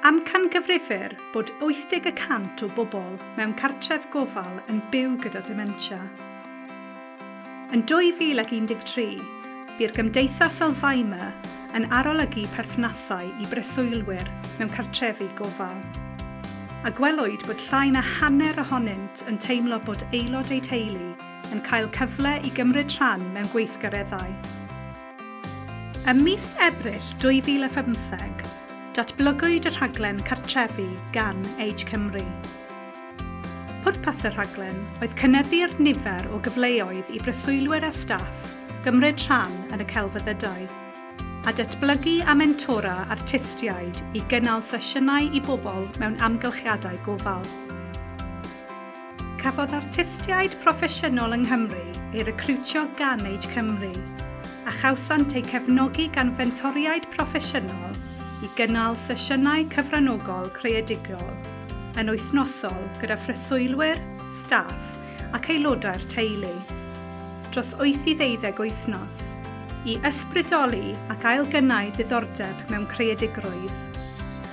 Amcangyfrifir bod 80 y cant o bobl mewn cartref gofal yn byw gyda dementia. Yn 2013, bu'r Gymdeithas Alzheimer yn arolygu perthnasau i breswylwyr mewn cartrefi gofal, a gwelwyd bod llai na hanner ohonynt yn teimlo bod aelod eu teulu yn cael cyfle i gymryd rhan mewn gweithgareddau. Ym mis Ebrill 2017, datblygwyd y rhaglen Cartrefi gan Age Cymru. Pwrpas y rhaglen oedd cynyddu'r nifer o gyfleoedd i breswylwyr a staff gymryd rhan yn y celfyddydau, a datblygu a mentora artistiaid i gynnal sesiynau i bobl mewn amgylchiadau gofal. Cafodd artistiaid proffesiynol yng Nghymru eu recriwtio gan Age Cymru, a chawsant eu cefnogi gan fentoriaid proffesiynol i gynnal sesiynau cyfranogol creadigol yn wythnosol gyda phreswylwyr, staff ac aelodau'r teulu, dros wyth i ddeuddeg wythnos, i ysbrydoli ac ailgynnau diddordeb mewn creadigrwydd.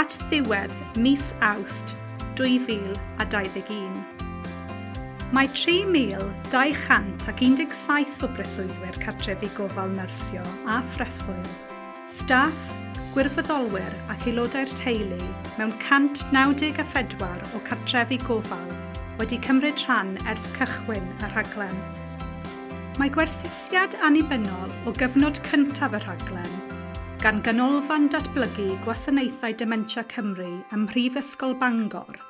at ddiwedd mis Awst 2021. Mae 3,217 o breswylwyr cartrefi gofal nyrsio a phreswyl, staff, gwirfoddolwyr ac aelodau'r teulu mewn 194 o cartrefi gofal wedi cymryd rhan ers cychwyn y rhaglen. Mae gwerthusiad annibynnol o gyfnod cyntaf y rhaglen, gan Ganolfan Datblygu Gwasanaethau Dementia Cymru ym Mhrifysgol Bangor,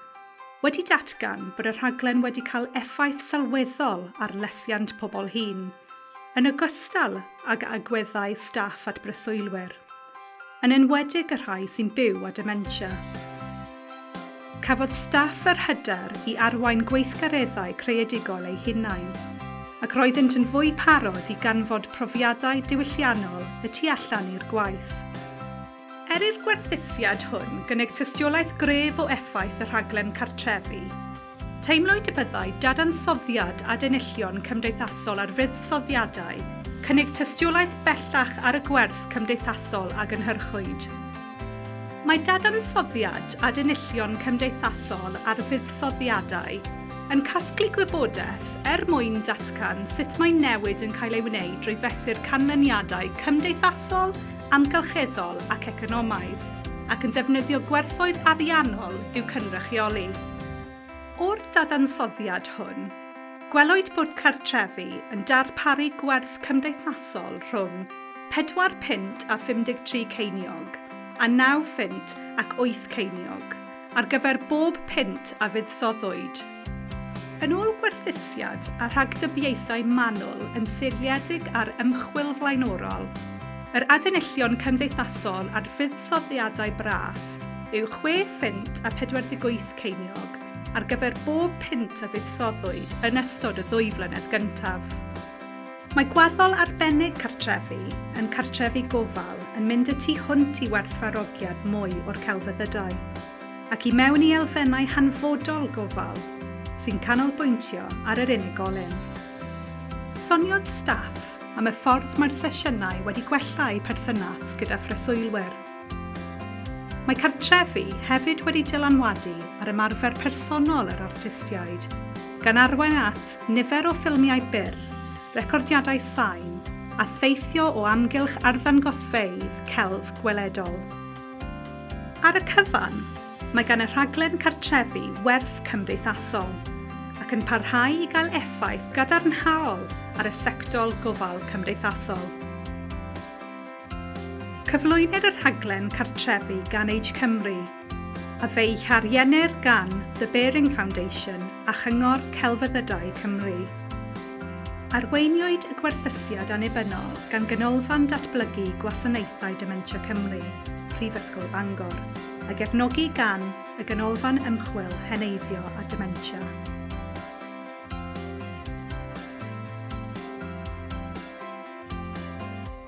wedi datgan bod y rhaglen wedi cael effaith sylweddol ar lesiant pobl hŷn, yn ogystal ag agweddau staff at breswylwyr. yn enwedig y rhai sy'n byw â dementia. Cafodd staff yr hyder i arwain gweithgareddau creadigol eu hunain, ac roeddynt yn fwy parod i ganfod profiadau diwylliannol y tu allan i'r gwaith. Er i'r gwerthusiad hwn gynnig tystiolaeth gref o effaith y rhaglen cartrefi, Teimlwyd y byddai dadansoddiad adenillion cymdeithasol ar fuddsoddiadau cynnig tystiolaeth bellach ar y gwerth cymdeithasol a gynhyrchwyd. Mae dadansoddiad adenillion cymdeithasol ar fuddsoddiadau yn casglu gwybodaeth er mwyn datgan sut mae newid yn cael ei wneud drwy fesur canlyniadau cymdeithasol, amgylcheddol ac economaidd, ac yn defnyddio gwerthoedd ariannol i'w cynrychioli. O'r dadansoddiad hwn, gwelwyd bod cartrefi yn darparu gwerth cymdeithasol rhwng pedwar punt a 53 ceiniog a naw phunt ac wyth ceiniog ar gyfer bob punt a fuddsoddwyd. Yn ôl gwerthusiad a rhagdybiaethau manwl yn seiliedig ar ymchwil flaenorol, yr adenillion cymdeithasol ar fuddsoddiadau bras yw chwe phint a 48 ceiniog ar gyfer bob punt a fuddsoddwyd yn ystod y ddwy flynedd gyntaf. Mae gwaddol arbennig cartrefi yn cartrefi gofal yn mynd y tu hwnt i werthfarogiad mwy o'r celfyddydau, ac i mewn i elfennau hanfodol gofal sy'n canolbwyntio ar yr unigolyn. Soniodd staff am y ffordd mae'r sesiynau wedi gwella eu perthynas gyda phreswylwyr. Mae cartrefi hefyd wedi dylanwadu ar ymarfer personol yr artistiaid, gan arwain at nifer o ffilmiau byr, recordiadau sain, a theithio o amgylch arddangosfeydd celf gweledol. Ar y cyfan, mae gan y rhaglen cartrefi werth cymdeithasol, ac yn parhau i gael effaith gadarnhaol ar y sectol gofal cymdeithasol. Cyflwynir y rhaglen cartrefi gan Age Cymru, a fe'i hariennir gan The Baring Foundation a Chyngor Celfyddydau Cymru. Arweiniwyd y gwerthusiad annibynnol gan Ganolfan Datblygu Gwasanaethau Dementia Cymru, Prifysgol Bangor, a gefnogi gan y Ganolfan Ymchwil Heneiddio a Dementia.